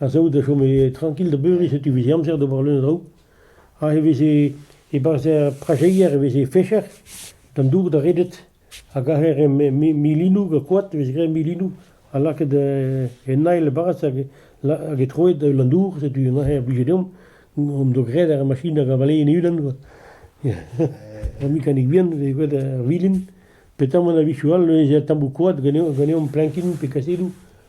ha saout a chome trankil da beuriñ setu e veze amzer d'ober leun a draoù ha e veze e-barzh er prajeier e veze fecher d'an dour da redet a gaver e milinoù gant koad e veze graet milinoù ha lakaet en ail e-barzh hag e troet an dour setu neuze a blije deomp hon doa graet ar machin hag a valee en e-unan quoi ur mekanik vihan e veze graet ar vilin petamant a-wechoù all neuze tammoù koad ganeomp plankin pe kasedoù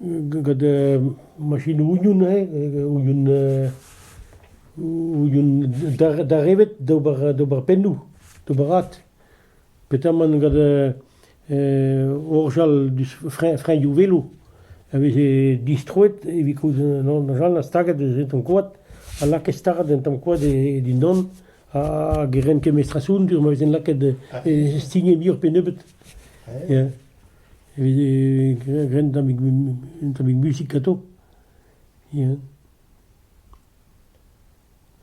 gant machinoù ouion eo, ouion ouion darevet d'ober pennoù, d'ober rat. Petamant gant orjal diouzh freñvioù velo a veze distroet evit kaout an orjal ha staget en tamm koad ha lakaet start en tamm koad dindan hag e rent kemestrasoù ma vezent lakaet stignet muioc'h pe nebeut. Evit ren un tammig un tammig musik atav, ya.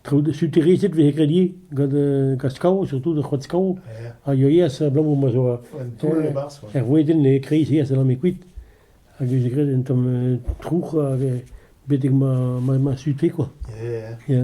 Traoù suterezed 'vez graet ivez gant gant skav, surtout gant c'hoad skav, a yoa ivez abalamour ma zo un taol er wedenn e-kreiz-se a sellame kuit hag e veze graet un tamm trouc'h betek ma ma ma sute quoi, ya.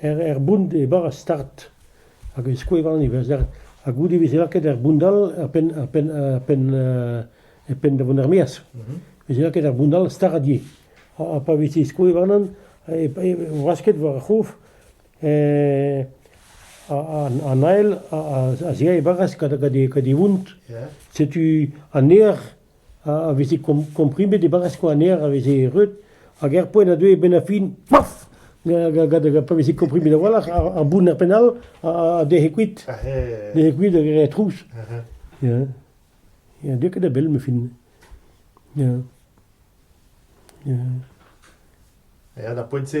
er bount e bar ar start hag e skouervan e ha goude e veze lakaet er bount all er penn er penn er penn e penn da vont er-maez. E veze lakaet er bount all stardie. Ha pa veze skouervanan e wasket war ar c'hof an ael a zea e baras gant e vount. Setu an eer a veze komprimet e barrez Koaner a veze reut hag er poent a deue e-benn ar fin paf pa veze komprimet a-walc'h ar bounner penn-all a dec'he kuit dec'he kuit hag re trouz. Ya, deu ket da bell, ma fin. Ya. Ya. Ya, da poent-se...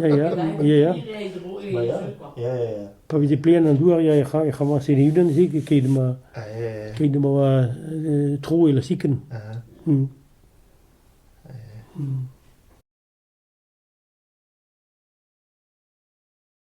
Ya, ya, ya, ya. Ma ya, ya, ya, ya. Pa veze plean an douar, ya, ec'h ec'h amañ Seneuden-se keit ma Ah, ya, ya, ya. keit ma oa euh, tro e la siken. Ah, Hmm.